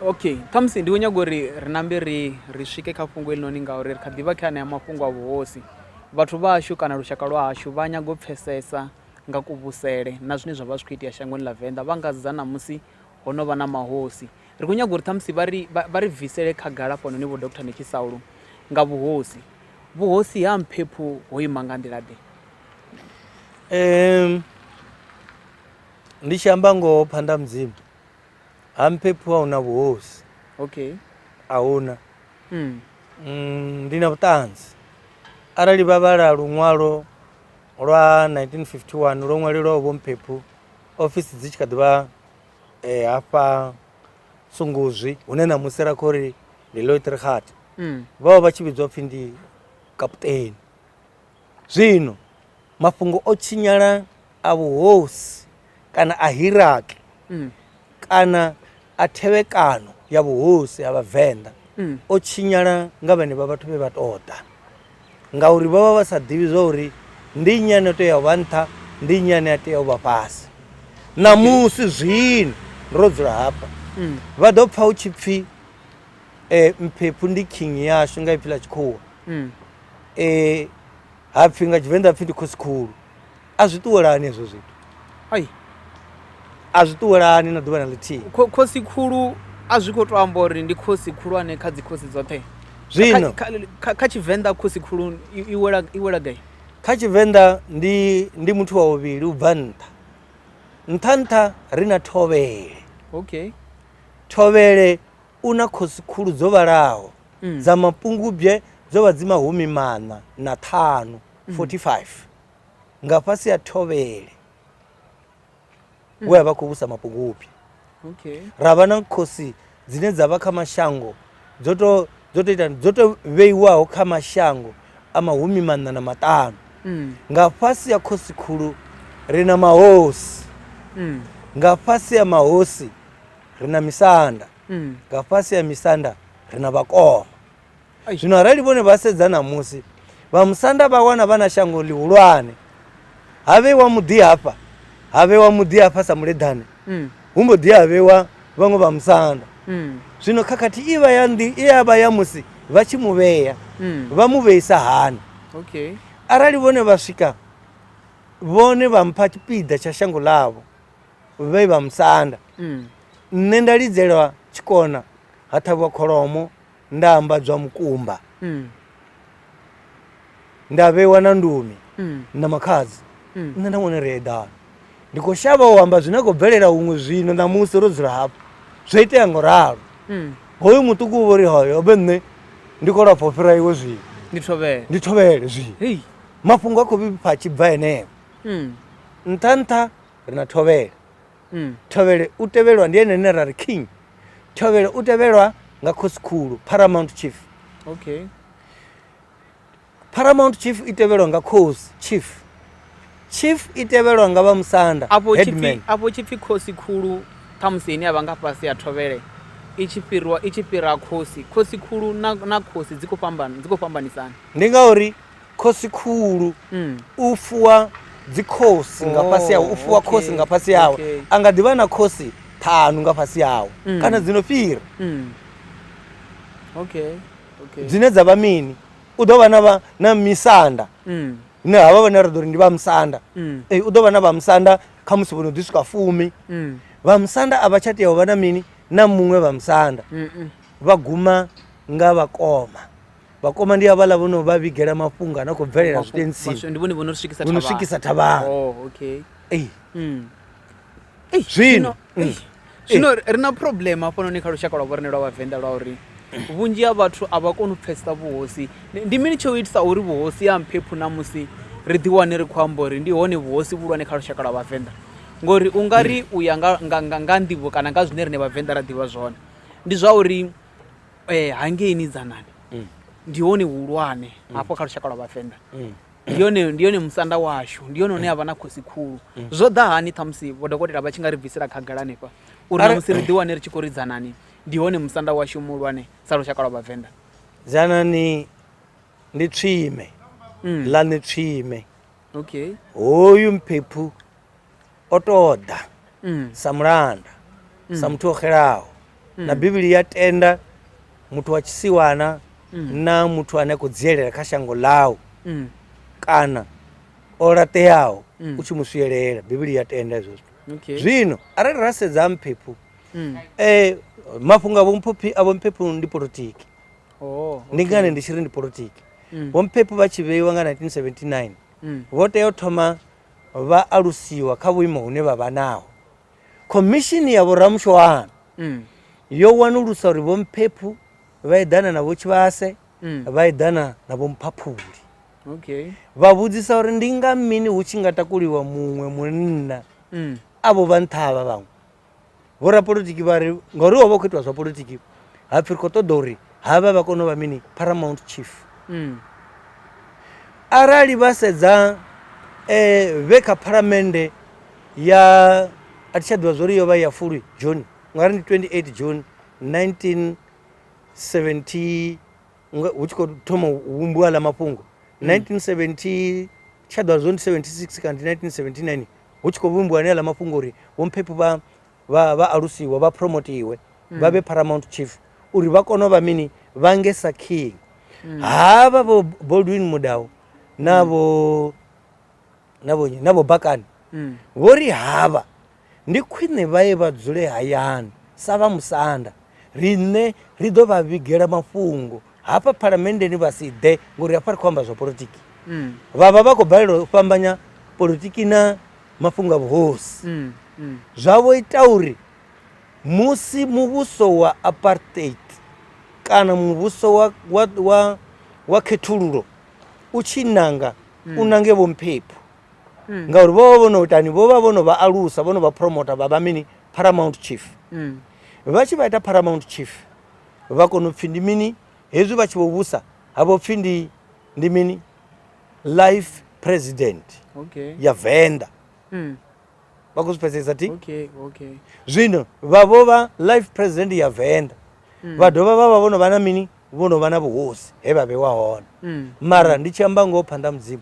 Okay khamusi ndi khou nyaga uri ri nambe ri ri swike kha fhungo heḽinoni ngauri ri kha ḓivha kha anea mafhungo a vhuhosi vhathu vha hashu kana lushaka lwa hashu vha nyaga u pfhesesa nga kuvhusele na zwine zwa vha zwi kho itea shangoni ḽa venḓa vha nga sedza ṋamusi ho no vha na mahosi ri khou nyaga uri ṱhamusi vha ri vha ri bvisele khagala hafhanoni vho doctor netshi saulo nga vhuhosi vhuhosi ha mphephu ho ima nga nḓila ḓe. ndi tshi amba ngoho phanḓa mudzimu ha mphephu a huna vhuhosi okay a huna mm. mm, ndi na vhuṱanzi arali vha vhala luṅwalo lwa 1951 lwo ṅwalelwaho vho mphephu ofisi dzi tshi kha ḓivha um eh, hafha tsunguzwi hune na musi ra khou ri ndi loitrighat mm. vha vha vha tshi vhidzwa pfhi ndi kaputeni Zwino, mafhungo o tshinyala a vhuhosi kana a hiraki kana a thevhekano ya vhuhosi ha Vhavenḓa o tshinyala nga vhenevha vhathu vhe vha tou ḓa, ngauri vho vha vha sa ḓivhi zwa uri ndi nnyi ane a tea u vha nṱha, ndi nnyi ane a tea u vha fhasi. Ṋamusi zwino ro dzula hafha, vha ḓo pfa hu tshi pfi Mphephu ndi king yashu nga ipfi ḽa tshikhuwa, um ha pfhi nga tshivenḓa ha pfhi ndi khosi khulu a zwi ṱuwelani hezwo zwithu ai a zwi ṱuwelani na ḓuvha na ḽithihi kho- khosi khulu a zwi khou to amba uri ndi khosi khulwane kha dzikhosi dzoṱhe zwino Kha- kha- kha- kha tshivenḓa khosi khulu i i wela- i wela gai kha tshivenḓa ndi ndi muthu wa vhuvhili u bva nṱha nṱha nṱha ri na thovhele okay thovhele u na khosi khulu dzo vhalaho mm. dza mapungubye dzo vha dzi mahumi maṋa na ṱhanu 45 mm. nga fhasi ya thovhele mm. we a vha khou vhusa mapungubye ra vha na khosi dzine dza vha kha mashango dzo to dzo to ita dzo to vheiwaho kha mashango a mahumi maṋa na maṱanu mm. nga fhasi ya khosi khulu ri na mahosi mm. nga fhasi ya mahosi ri na misanda mm. nga fhasi ya misanda ri na vhakoma zwino arali vhone vha sedza namusi vha musanda vha wana vha na shango ḽihulwane ha vheiwa muḓi hafha ha vheiwa muḓi hafha sa muleḓane mm. hu mbo ḓi ha vheiwa vhaṅwe vha musanda mm. zwino khakhathi i vha ya ndi i ya vha ya musi vha tshi mu vhea mm. vha mu vheisa hani okay. arali vhone vha swika vhone vha mpha tshipiḓa tsha shango ḽavho vhe vha musanda mm. nṋe nda lidzelwa tshikona ha ṱhavhiwa kholomo nda ambadzwa mukumba mm. nda vheiwa na ndumi mm. na makhadzi nṋe nda vhone ri eḓana ndi khou shavha u amba zwine khou bvelela huṅwe zwino ṋamusi ro dzula hafho zwo itea ngo ralo hoyu muṱuku u vhori hoyo obe nṋe ndi khou lafha u fhira iwe zwino ndi thovhele zwino mafhungo a khou vhipfa tshibva henefho nṱha nṱha ri na thovhele mm. thovhele u tevhelwa ndi ene ene ra ri king thovhele u tevhelwa nga khosikhulu paramount chief okay paramount chief i tevhelwa nga cos chief chief i tevhelwa nga vha musanda afho tshipfi khosi khulu ṱhamusi ine avha nga fhasi ya thovhele i tshi fhirwa i tshi fhira khosi khosi khulu na, na khosi dzi khou fhambana dzi khou fhambanisana ndi ngauri khosi khulu mm. u fuwa dzikhosi nga oh, fhasi yawe u fuwa khosi nga fhasi yawe a nga ḓivha na khosi ṱhanu nga fhasi yawe mm. kana dzino fhira mm. dzine dza vha mini u ḓo vha na misanda ne havha vhane ra ḓo ri ndi vha musanda u ḓo vha na vha musanda kha musi vhono ḓi swika fumi vha musanda a vha tsha tea u vha na mini na muṅwe vha musanda vha guma nga vhakoma vhakoma ndi havhaḽa vho no vha vhigela mafhungo a no khou bvelela Mafhu- zwitentsini maswe- ndi vhone vho no swikisa vho no thavhani. swikisa thavhani Oh, okay. Ei, Mm. Ei, Zwino, mm. ei, zwino ri na problem hafhanoni kha lushaka lwa vhorine lwa vhavenḓa lwa uri vhunzhi ha vhathu a vha koni u pfesesa vhuhosi Ndi- ndi mini tsho itisa uri vhuhosi ha mphephu na musi ri ḓiwane ri khou amba uri ndi hone vhuhosi vhulwane kha lushaka lwa vhavenḓa ngori u nga ri u ya nga, nga, nga, nga nḓivho kana nga zwine rine vhavenḓa ra ḓivha zwone ndi zwa uri eh, hangeini dzanani mm. ndi hone hulwane mm. hafho kha lushaka lwa vhavenḓa mm. ndi yone ndi yone musanda washu ndi yone une a vha na khosi khulu mm. zwo ḓa hani ṱhamusi vhodokotela vha tshi nga ri bvisela khagala hanefha uri na musi ri ḓi wane ri tshi khou ri dzanani ndi hone musanda washu muhulwane sa lushaka lwa vhavenḓa dzanani ndi tswime mm. ḽa ni tswime okay hoyu mphephu o tou ḓa mm. sa mulanda mm. sa muthu o xelaho mm. na bivhili ya tenda muthu wa tshisiwana mm. na muthu ane a khou dzielela kha shango ḽau mm. kana o laṱeaho mm. u tshi mu swielela bivhili ya tenda hezwo zwithu okay. zwino arali ra sedza mphephu mm. eh, mafhungo a vhomphephi a vhomphephu ndi politiki oh, okay. ndi ngani ndi tshi ri ndi politiki mm. vhomphephu vha tshi vheiwa nga 1979 mm. vho tea u thoma vha alusiwa kha vhuimo hune vha vha naho. Khomishini ya vhoramushoano mm. yo wanulusa uri vho Mphephu vha eḓana na vho Tshivhase mm. vha eḓana na vho Mphaphuli. Okay. Vha vhudzisa uri ndi nga mini hu tshi nga takuliwa muṅwe munna mm. avho vha nṱha havha vhaṅwe. vho rapolitiki vha ri ngauri ho vha khou itiwa zwa politiki ha pfhi ri khou ṱoḓa uri havha vha kone u vha mini paramount chief mm. arali vha sedza um vhe kha phalamende ya a thi tsha ḓivha zwo ri yo vha ya fulwi june ngauri ndi 28 june 19 70 hu tshi khou thoma u vhumbiwa ḽa mafhungo 1970 mm. Tsha ḓo vha zwo ndi 76 kana ndi 1979 hu tshi khou vhumbiwa anea ḽa mafhungo uri vhomphephi vha vha vha alusiwe vha promotiwe vha vhe paramount chief uri vha kone u vha mini vha nge sa king havha vho Baldwin Mudau na vho na vho na vho Bakani vho ri havha Ndi khwine vha ye vha dzule hayani sa vha musanda. Riṋe ri ḓo vha vhigela mafhungo hafha phalamenndeni vha si ḓe ngori hafha ri khou amba zwa politiki. Mm. Vha vha vha khou balelwa u fhambanya politiki na mafhungo a vhuhosi. Mm. Mm. Zwa vho ita uri musi muvhuso wa apartheid kana muvhuso wa, wa, wa, wa khethululo u tshi nanga mm. u nange vho mphephu mm. ngauri vho vha vho no itani vho vha vho no vha alusa vho no vha promota vha vha mini paramount chief mm. vha tshi vha ita paramount chief vha kona u pfhi ndi mini hezwi vha tshi vho vhusa ha vho pfhi ndi ndi mini life president okay. ya venda mm. vha khou zwi pfesesa ti okay, okay. zwino vha vho vha life president ya venda mm. vha dovha vha vha vho no vha na mini vho no vha na vhuhosi he vha vhewa hone mm. mara ndi tshi amba ngoho phanḓa mudzimu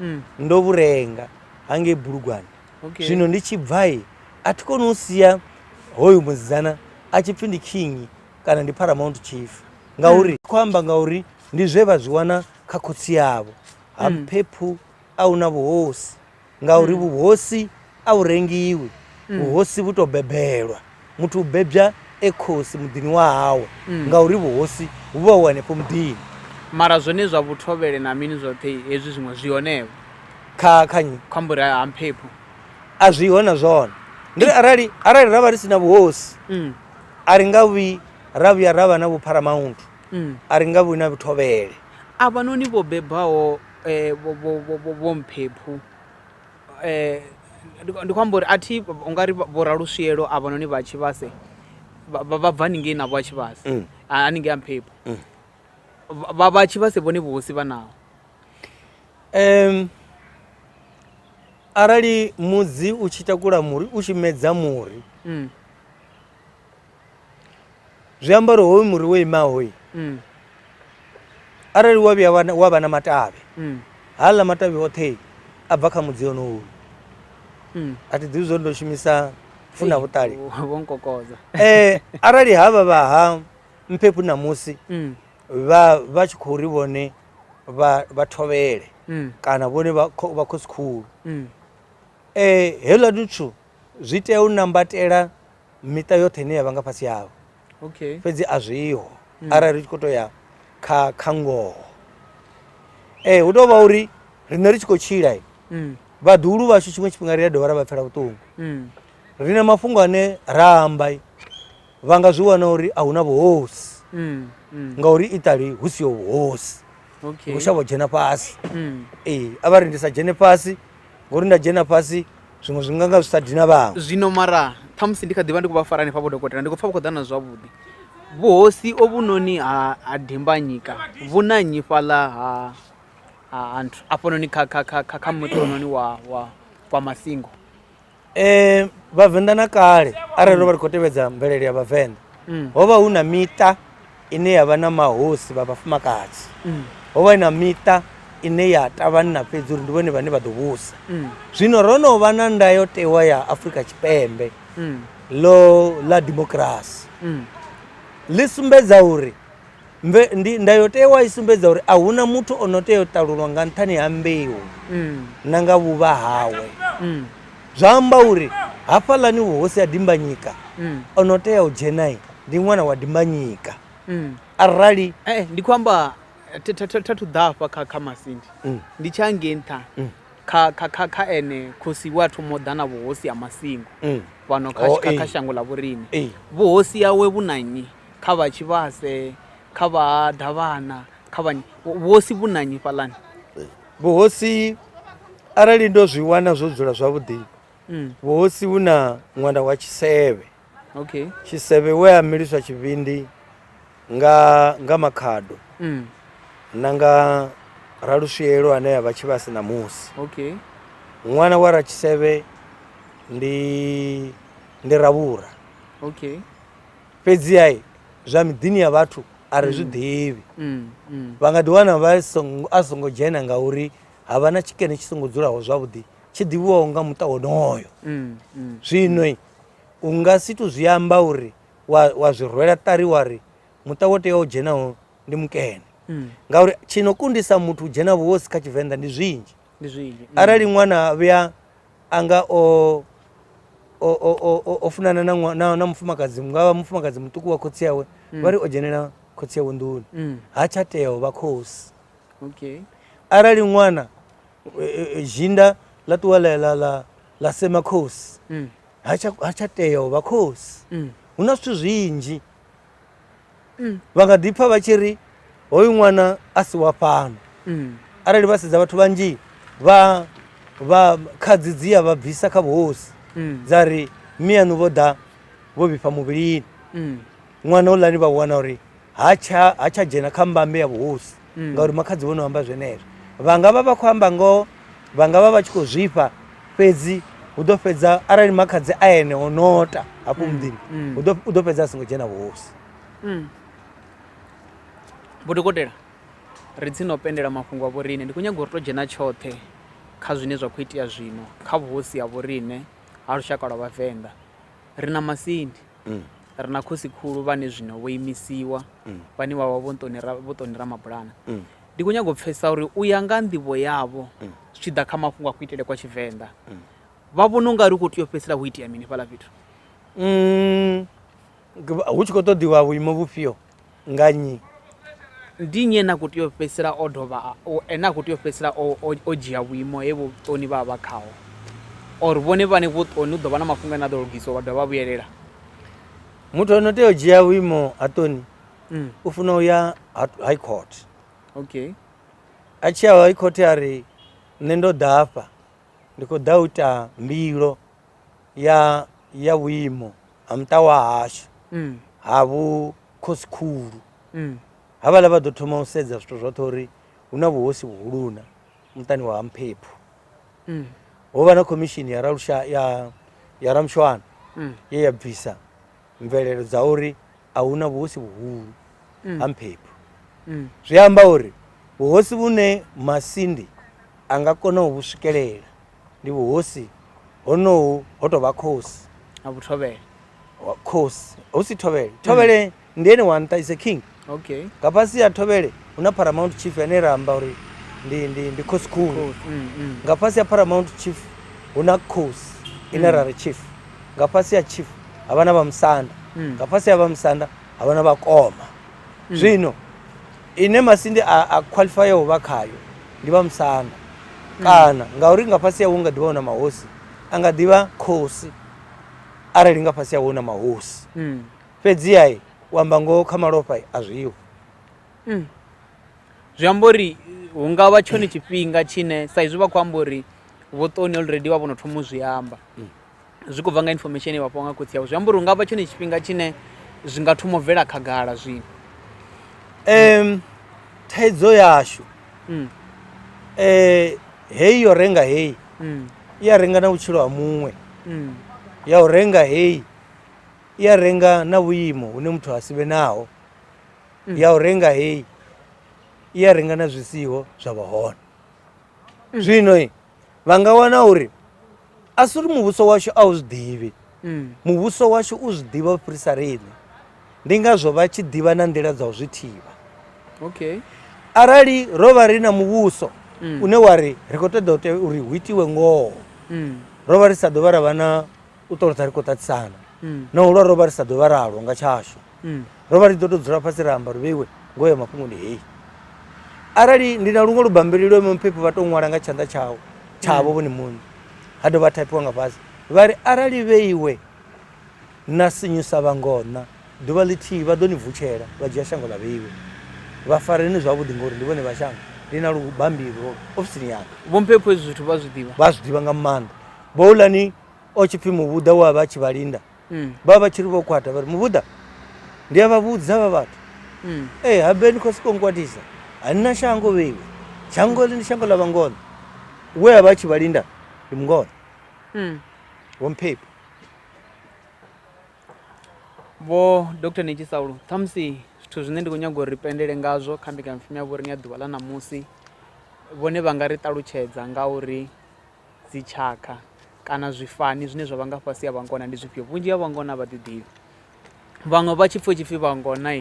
mm. ndo vhu renga hangei bulugwane okay. zwino ndi tshi bvai a thi koni u sia hoyu musidzana a tshi pfhi ndi king kana ndi paramount chief ngauri mm. khou amba ngauri ndi zwe vha zwi wana kha khotsi yavho ha mm. phephu a hu na vhuhosi ngauri mm. vhuhosi A hu rengiwi, vhuhosi vhu tou bebelwa. Muthu u bebya e khosi muḓini wa hawe ngauri vhuhosi vhu vha vhu henefho muḓini. Mara zwone zwa vhuthovhele na mini zwoṱhe hezwi zwiṅwe zwi hone-vho? Kha, kha nnyi? Kha mburi ha, ha mphephu. A zwi ho na zwone. Ndi ri arali, arali ra vha ri si na vhuhosi, a ri nga vhi ra vhuya ra vha na vhupharamauntu, a ri nga vhi na vhuthovhele. Avhanoni vho bebwaho vho, vho, vho, vho, vho mphephu. Ndi khou amba uri a thi ungari vho Raluswielo a vha noni vha Tshivhase vha bva haningei navho a Tshivhase mm. haningei a Mphephu mm. vha vha Tshivhase vhone vhuhosi vha naho um arali mudzi u tshi takula muri u tshi medza muri mm. zwi amba uri hoyu muri wo imaho mm. arali wa vhuya wa vha na matavhi mm. haḽa matavhi oṱhe a bva kha mudzi onowu mm. a thi ḓivi zwo ndo shumisa funa vhuṱali eh, arali ha vha vha ha mphephu ṋamusi mm. vha vha tshi khou ri vhone vha thovhele mm. kana vhone vha khosikhulu um mm. eh, heḽa duthu zwi tea u nambatela miṱa yoṱhe ine ya vha nga fhasi havho okay fhedzi a zwiho mm. arali ri tshi khou to ya kha kha ngoho ee eh, hu tou vha uri riṋe ri tshi khou tshila mm. vhaḓuhulu vhashu tshiṅwe tshifhinga ri a dovha ra vha pfela vhuṱungu mm. ri na mafhungo ane ra amba vha nga zwi wana uri a hu na vhuhosi mm, mm. ngauri itali hu siho vhuhosi hu shavho dzhena fhasi mm. ee a vha ri ndi sa dzhene fhasi ngori nda dzhena fhasi zwiṅwe zwi nganga zwi sa dina vhaṅwe zwino mara ṱhamusi ndi kha ḓivha ndi khou vha fara hanefha vho dokotela ndi khou pfha vha khou ḓa na zwavhuḓi vhuhosi ovhunoni ha ha dimbanyika vhu na nnyi fhaḽa ha ha nthu afhanoni kha kha kha kha kha muṱononi wa wa wa masingo um vhavenḓa na kale arali ro vha ri khou tevhedza mvelele ya vhavenḓa mm. ho vha hu na miṱa ine ya vha na mahosi vha vhafumakadzi mm. ho vha na miṱa ine ya tavhanna fhedzi uri ndi vhone vhane vha ḓo vhusa mm. zwino ro no vha na ndayotewa ya afrika tshipembe lo ḽa dimokirasi ḽi sumbedza uri Mve, ndi, ndayotewa i sumbedza uri a huna muthu o no tea u ṱalulwa nga nṱhani ha mbeu mm. na nga vhuvha hawe mm. zwa amba uri hafhaḽani vhuhosi ha dimbanyika mm. o no tea u dzhenai ndi ṅwana wa dimbanyika mm. arali eh, eh ndi khou amba thathu ḓafha kha kha masindi mm. ndi tsha ngei nṱha mm. kha kha kha kha ene khosi wa thoma u ḓa na vhuhosi ha masingo mm. fhano kha oh, kha eh. shango ḽa vhorine eh. vhuhosi yawe vhu na nnyi kha vha tshivhase kha vha davhana kha vha vhuhosi vhu nanyi fhaḽani vhuhosi arali ndo zwi wana zwo dzula zwavhuḓi mm. vhuhosi vhu na ṅwana wa tshisevhe okay tshisevhe we a miliswa tshivhindi nga nga makhado mm. na nga raluswielo ane ya vha tshivhasi na musi okay ṅwana wa ratshisevhe ndi ndi ravhura okay fhedziha zwa miḓini ya vhathu a ri zwi mm. ḓivhi mm, mm. vha nga ḓiwana vha a songo dzhena ngauri ha vha na tshikene tshi songo dzulaho zwavhuḓi tshi ḓivhiwaho nga muṱa wonoyo zwino u nga si to zwi amba uri wa zwi rwela ṱari wa ri muṱa wo teaho dzhenaho ndi mukene ngauri tshi no kundisa muthu u dzhena vhuhosi kha tshivenḓa ndi zwinzhi ndi zwinzhi mm. arali ṅwana vhuya anga o o funana na na mufumakadzi ngavha mufumakadzi muṱuku wa khotsi yawe mm. vha ri o dzhenela khotsi yawe nḓuni mm. ha tsha tea u vha khosi okay arali ṅwana e, e, e, zhinda ḽa ṱuwa ḽa ḽa ḽa ḽa sema khosi ha tsha ha tsha tea u vha khosi hu na zwithu zwinzhi Mm. vha nga ḓi pfa vha tshi ri hoyu ṅwana a si wa fhano Mm. arali vha sedza vhathu vhanzhi vha vha khadzi dzi ya vha bvisa kha vhuhosi Mm. dza ri miyaṋu vho ḓa vho vhifha muvhilini Mm. ṅwana u lani vha wana uri ha tsha ha tsha dzhena kha mbambe ya vhuhosi mm. ngauri makhadzi vho no amba zwenezwo vha nga vha vha khou amba ngoho vha nga vha vha tshi khou zwifha fhedzi hu ḓo fhedza arali makhadzi a ene o nota hafho mm, muḓini mm. u ḓo fhedza a songo dzhena vhuhosi mm. vhodokotela ri tsini o pendela mafhungo a vhoriṋe ndi khou nyaga uri to dzhena tshoṱhe kha zwine zwa khou itea zwino kha vhuhosi ha vhoriṋe ha lushaka lwa vhavenḓa ri na masindi mm. ri na khosi khulu vhane zwino vho imisiwa mm. vhane vha vha vho ṱoni ramabulana mm. ndi khou nyanga u pfesa uri u ya nga nḓivho yavho zwi tshi ḓa kha mafhungo a kuitele kwa tshivenḓa vha vhona u nga ri u khou tea u fhedzisela ho itea mini fhaḽa fhethu hu tshi khou ṱoḓiwa vhuimo vhufhio Nga nnyi? Ndi nnyi ene a khou tea u fhedzisela o dovha ene a khou tea u fhedzisela o, o, o dzhia vhuimo he vhuṱoni vha vha khaho? Or vhone vhane vhuṱoni hu ḓo vha na mafhungo ane a ḓo lugiswa vha dovha vha vhuyelela? Muthu ano tea u dzhia vhuimo ha ṱoni mm. u funa u ya high court. Okay. A tshi ya high court a ri nṋe ndo ḓafha ndi khou ḓa u ita mbilo ya ya vhuimo ha muṱa wa hashu mm. ha vhu khosi khulu mm. ha vhala vha ḓo thoma u sedza zwithu zwoṱhe uri hu na vhuhosi vhuhuluna muṱani wa mphephu mm. ho vha na khomishini ya ralusha ya ya ramshwana mm. ye ya bvisa mvelelo dza uri a hu na vhuhosi vhuhulu mm. ha mphephu mm. zwi amba uri vhuhosi vhune masindi a nga kona u vhu swikelela ndi vhuhosi honohu ho tovha khosi ha vhuthovhele khosi hu si thovhele mm. thovhele mm. ndi ene wa nṱa is a king okay nga fhasi ya thovhele hu na paramount chief ane ra amba uri ndi ndi ndi khosi khulu mm, mm. nga fhasi ya paramount chief hu na khosi ine ra ri chief nga fhasi ya chief ha vha na vha musanda nga fhasi ya vha musanda ha vha na vhakoma zwino Ine masindi a, a khwalifaya u vha khayo ndi vha musanda. Mm. Kana, ngauri nga fhasi hawo nga ḓivha hu na mahosi, a nga ḓivha khosi arali nga fhasi hawo hu na mahosi. Mm. Fhedziha u amba ngoho kha malofha a zwiho. Mm. Zwi amba uri hu nga vha tshone tshifhinga tshine sa izwi vha khou amba uri vho Toni already vha vho no thoma u zwi amba. Mm. zwi khou bva nga information ye vha fhiwa nga khotsi avho zwi amba uri hu nga vha tshone tshifhinga tshine zwi nga thoma u bvela khagala zwino um thaidzo yashu um heyi yo renga heyi um i a renga na vhutshilo ha muṅwe um ya u renga heyi i a renga na vhuimo hune muthu ha si vhe naho Mm. ya u renga heyi i a renga na zwisiho zwa vha hone zwino i vha nga wana uri a si uri muvhuso washu a u zwi ḓivhi mm. muvhuso washu u zwi ḓivha u fhirisa riṋe ndi ngazwo vha tshi ḓivha na nḓila dza u zwi thivha okay arali ro vha ri na muvhuso mm. une wa ri ri khou ṱoḓa ute uri hu itiwe ngoho mm. ro vha ri sa ḓovha ra vha na u ṱolotsa ri khou ṱatisana mm. na u lwa ro vha ri sa ḓovha ralwo nga tshashu mm. ro vha ri ḓo to dzula fhasi ra amba ri vheiwe ngoho ya mafhungo ndi heyi arali ndi na luṅwe lubambeli lwe muphephi vha tou ṅwala nga tshanḓa tshawo tshavho mm. vhone muṋe ha dovha thaipiwa nga fhasi vha ri arali vheiwe na sinyusa vhangona ḓuvha ḽithihi vha ḓo ni vutshela vha dzhia shango ḽa vheiwe vha fareni zwavhuḓi ngori ndi vhone vha shango ndi na lubambili lwo ofisini yanga vhomphepho hezwi zwithu vha zwi ḓivha vha zwi ḓivha nga maanḓa bouḽani o tshi pfhi muvhuḓa wa vha tshi vha linda mm. vha vha tshi ri vho kwata vha ri muvhuḓa ndi a vha vhudza vha vhathu mm. e eh, habe ni khou sokou nkwatisa a ni na shango vheiwe shango ḽi ndi shango ḽa vhangono we a vha tshi vha linda ndi mungono mm. wo mphephi vho dr nitshi saulo ṱhamusi zwithu zwine ndi khou nyaga uri ri pendele ngazwo kha mbekanyapfumi ya vhoriṅe ya ḓuvha ḽa ṋamusi vhone vha nga ri ṱalutshedza nga uri Dzitshakha kana zwifani zwine zwa vha nga fhasi ha vhangona ndi zwifhio? Vhunzhi ha vhangona a vha ḓi ḓivhi. Vhaṅwe vha tshi pfha tshi pfhi vhangona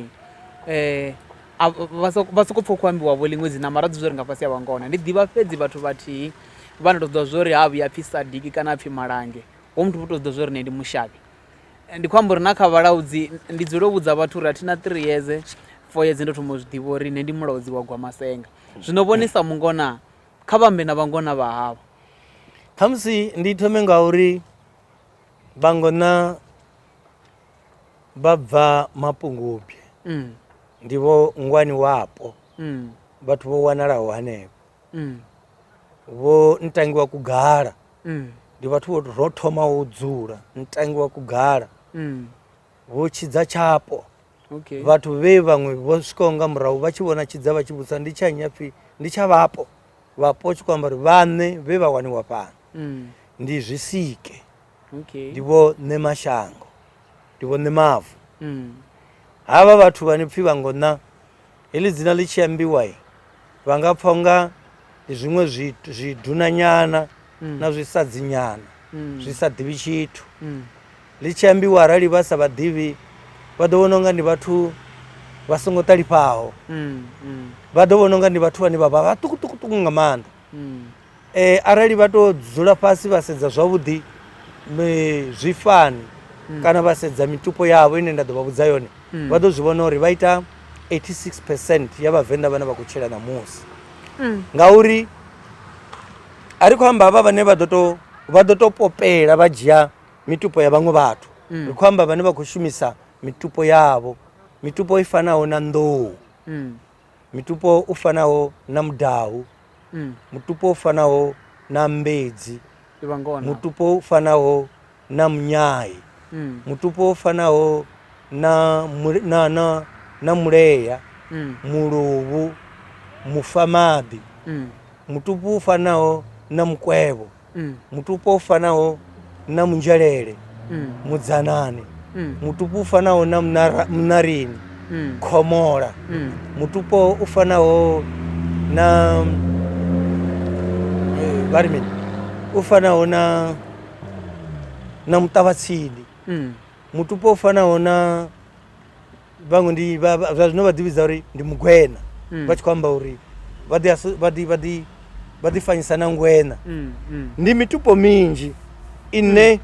eh, vha sokou pfha khou ambiwa vho ḽiṅwe dzina mara dzi zwo ri nga fhasi ha vhangona ndi ḓivha fhedzi vhathu vhathihi vha na tou ḓivha zwo ri ha vhuya pfhi sadiki kana a pfhi malange ho muthu vho tou ḓivha zwo ri ne ndi mushavhi ndi khou amba uri na kha vhalaudzi ndi dzule u vhudza vhathu uri a thi na three yeze four yeze ndo thoma u zwi ḓivha uri ne ndi mulaudzi wa gwamasenga zwino vhonisa mungona Kha vha ambe na vhangona vha havho. Khamusi ndi thome nga uri vhangona vha bva mapungubye mm. ndi vho ngwani wapo mm. vhathu vho wanalaho hanefho mm. vho ntangi wa kugala mm. ndi vhathu vho ro thoma u dzula ntangi wa kugala mm. vho tshidza tshapo okay. vhathu vhe vhaṅwe vho swikaho nga murahu vha tshi vhona tshidza vha tshi vhudza ndi tsha nnyi apfhi ndi tsha vhapo vhapo tshi khou amba uri vhaṋe vhe vha waniwa fhano mm. ndi zwisike okay. ndi vho ṋe mashango ndi vho ṋe mavu mm. havha vhathu vhane pfhi vha ngo ṋa Heḽi dzina ḽi tshi ambiwa vha nga pfha unga ndi zwiṅwe zwidunanyana mm. na zwisadzinyana mm. zwi sa ḓivhi tshithu mm. ḽi tshi ambiwa arali vha sa vhaḓivhi vha ḓo vhona unga ndi vhathu vha songo ṱalifhaho vha ḓo vhona unga ndi vhathu vhane vha vha vhaṱukuṱukuṱuku nga maanḓa um arali vha to dzula fhasi vha sedza zwavhuḓi zwifani mm. kana vha sedza mitupo yavho ine nda ḓo vha vhudza yone mm. vha ḓo zwi vhona uri vha ita 86 percent ya vhavenḓa vhane vha khou tshila ṋamusi mm. ngauri a ri khou amba havha vhane vha ḓo to popela vha dzhia mitupo ya vhaṅwe vhathu ri khou amba vhane vha khou shumisa mitupo yavho mitupo i fanaho na nḓou Mutupo u fanaho na mudahu, mm. mutupo u fanaho na mbedzi, mutupo u fanaho na munyai, mm. mutupo u fanaho na, na, na, na muleya, mm. muluvhu, mufamaḓi, mm. mutupo u fanaho na mukwevho. mm. mutupo u fanaho na munzhelele mm. mudzanane mm. mutupo u fanaho na munarini mm. khomola mm. mutupo u fanaho na eh, vha ri mini u fanaho na na muṱavhatsindi mm. mutupo u fanaho na vhaṅwe ndi vha- vha- zwa zwino vha ḓivhidza uri ndi mugwena Mm. vha tshi khou amba uri vha ḓi aso- vha ḓi- vha ḓi- vha ḓi fanyisa na ngwena Mm, mm. ndi mitupo minzhi ine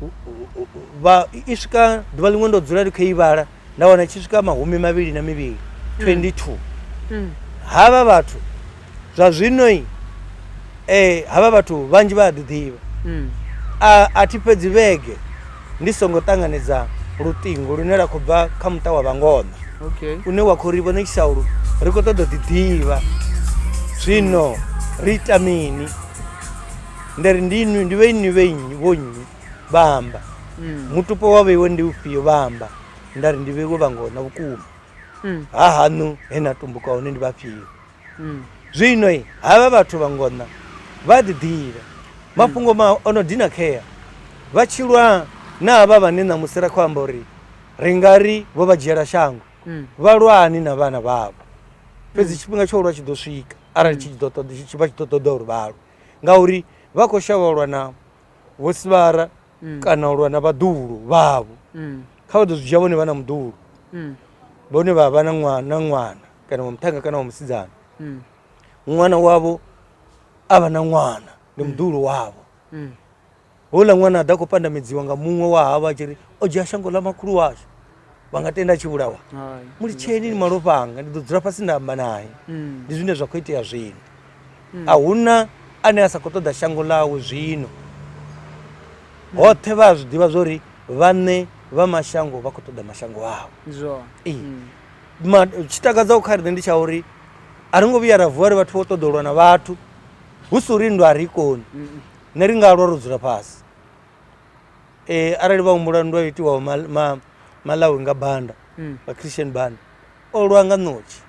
u- u- u- vha i swika ḓuvha ḽiṅwe ndo dzula ndi khou i vhala nda wana i tshi swika mahumi mavhili na mivhili 22 Mm. havha vhathu zwa zwino i eh havha vhathu vhanzhi vha a ḓiḓivha mm. a a thi fhedzi vhege ndi songo ṱanganedza luṱingo lune la khou bva kha muṱa wa vhangoṋa okay. une wa khou ri vhone tshisaulu ri khou ṱoḓa ḓiḓivha zwino ri ita mini nda ri ndi inwi ndi vhe inwi vhe nnyi vho nnyi vha amba mm. mutupo wa vheiwe ndi ufhio vha amba nda ri ndi vheiwe vhangoṋa vhukuma mm. ha haṋu he na tumbuka hone ndi vhafhio Mm. Zwino i havha vhathu vha ngona vha a ḓiḓivha, mafhungo ma o no dina khea, vha tshi lwa na havha vhane ṋamusi ra khou amba uri ri nga ri vho vha dzhiela shango, Mm. vha lwani na vhana vhavho. Fhedzi tshifhinga tsha u lwa tshi ḓo swika arali tshi tshi ḓo ṱoḓa- tshi- tshi- vha tshi ḓo ṱoḓa uri vha lwe, ngauri vha khou shavha u lwa na vhosivhara kana u lwa na vhaḓuhulu vhavho. Mm. Kha vha ḓo zwi dzhia vhone vha na muḓuhulu, Mm. vhone vha vha na ṅwa- na ṅwana. kana wa muṱhannga kana wa musidzana Mm. ṅwana wavho a vha na ṅwana ndi muḓuhulu wavho Mm. houḽa ṅwana a ḓa khou pandamedziwa nga muṅwe wa havho a tshi ri o dzhia shango ḽa makhulu washu vha nga tenda a tshi vhulawa Hai. mu litsheni ni malofha anga ndi ḓo dzula fhasi nda amba naye Mm. ndi zwine zwa khou itea zwino a huna ane a sa khou ṱoḓa shango ḽawe zwino hoṱhe vha a zwi ḓivha zwo ri vhaṋe vha mashango vha khou ṱoḓa mashango avho Ndi zwone. Ee. Mm. tshi takadzaho kha riṋe ndi tsha uri a ri ngo vhuya ra vuwa ri vhathu vho ṱoḓa u lwa na vhathu hu si uri nndwa a ri koni ne ri nga lwa ro dzula fhasi um arali vha humbula nndwa yo itiwaho malawi nga banda mm. nga christian banda o lwa nga ṋotshi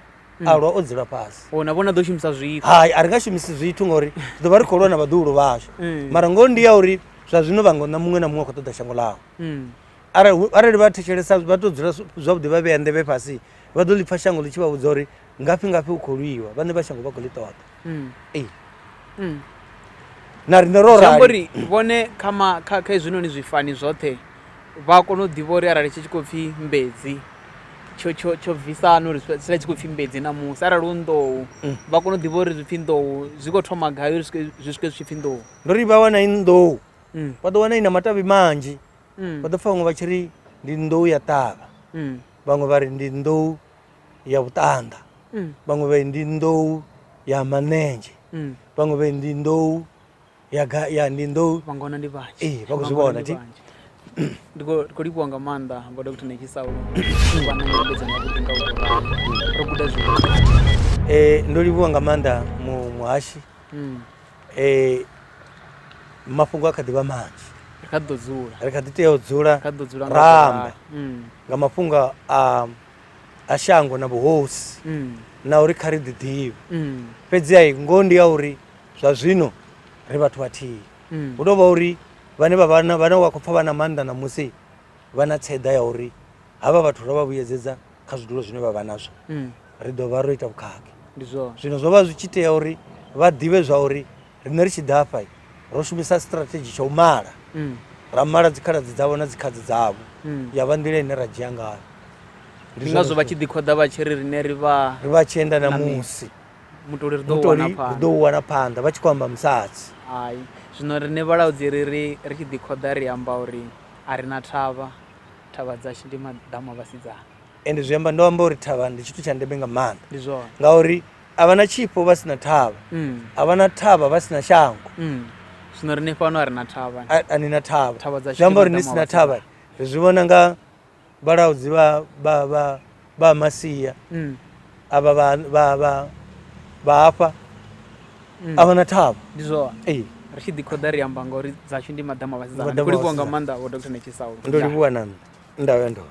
mm. a lwa o dzula fhasi oh, na vhona ḓo shumisa zwithu hai a ri nga shumisi zwithu ngauri ri ḓo vha ri khou lwa na vhaḓuhulu vhashu mm. mara ngoho ndi ya uri zwa zwino vha ngo na muṅwe na muṅwe a khou ṱoḓa shango ḽaho arali arali vha thetshelesa vha to dzula zwavhuḓi vha vhea nḓevhe fhasi vha ḓo ḽi pfha shango ḽi tshi vha vhudza uri ngafhi ngafhi u khou lwiwa vhane vha shango vha khou ḽi ṱoḓa ee na riṋe ro rali uri vhone kha ma kha kha hezwinoni zwifani zwoṱhe vha kone u ḓivha uri arali tshi tshi khou pfhi mbedzi tsho tsho tsho bvisana uri sila tshi khou pfhi mbedzi na musi arali u nḓou mm. vha kone u ḓivha uri zwi pfhi nḓou zwi khou thoma gai uri zwi swike zwi tshi pfhi nḓou ndo ri vha wana i nḓou mm. vha ḓo wana ina matavhi manzhi mm. vha ḓo pfa vhaṅwe vha tshi ri ndi nḓou ya ṱavha mm. vhaṅwe vha ri ndi nḓou ya vhuṱanda mm. vhaṅwe vha ndi nḓou ya manenzhe mm. vhaṅwe vha ndi nḓou ya ndi nḓou vhangona ndi vhanzhi ee vha khou zwi vhona ti ndi khou livhuwa nga maanḓa vho dr nekisau vha na nyambedzano yavhuḓi nga u ro guda zwithu um ndo livhuwa nga maanḓa muhashi Mm. eh, mafhungo a kha ḓi vha manzhi Ri kha ḓi ḓo dzula ri kha ḓi tea u dzula kha ḓi ḓo dzula nga ra amba vhulalo. Mm. nga mafhungo a a shango na vhuhosi Mm. na uri kha ri ḓi ḓivhe Mm. fhedzi ai ngoho ndi ya uri zwa zwino ri vhathu vhathihi Mm. hu tou vha uri vhane vha vha na- vhane wa khou pfha vha na maanḓa ṋamusi vha na tseḓa ya uri havha vhathu ro vha vhuyedzedza kha zwidulo zwine vha vha nazwo mm. ri ḓo vha ro ita vhukhakhi zwino zwo vha zwi tshi tea uri vha ḓivhe zwa uri riṋe ri tshi ḓa hafha ro shumisa strategy tsha u mala mm. ra mala dzikhaladzi dzavho na dzikhadzi dzavho mm. ya vha nḓila ine ra dzhia ngayo ndi ngazwo vha tshi ḓikhoḓa vha tshi ri riṋe ri vha ri vha tshi enda na musi mutoli ri ḓo u wana phanḓa vha tshi khou amba musadzi hai zwino riṋe vhalaudzi ri ri ri tshi ḓikhoḓa ri amba uri a ri na thavha Thavha dzashu ndi maḓamu a vhasidzana. Ende zwi amba ndo amba uri thavha ndi tshithu tsha ndeme nga maanḓa. Ndi zwone. Ngauri a vha na tshifho vha si na thavha. Mm. A vha na thavha vha si na shango. Mm. Zwino riṋe fhano a ri na thavha. A, a ni na thavha. Thavha dzashu. Zwi amba uri ni si na thavha. Ri zwi vhona nga vhalaudzi vha vha vha ba masiya mm. ava ba, ba, ba, ba hafha mm. a vha na thavho ndi zwoa ee ri tshi ḓikhoda ri amba ngauri dzashu ndi maḓama a vhasidzana ndi livhuwa nga maanḓa vho dr netshisaulu ndo livhuwa na nṋe ndavhe ndoo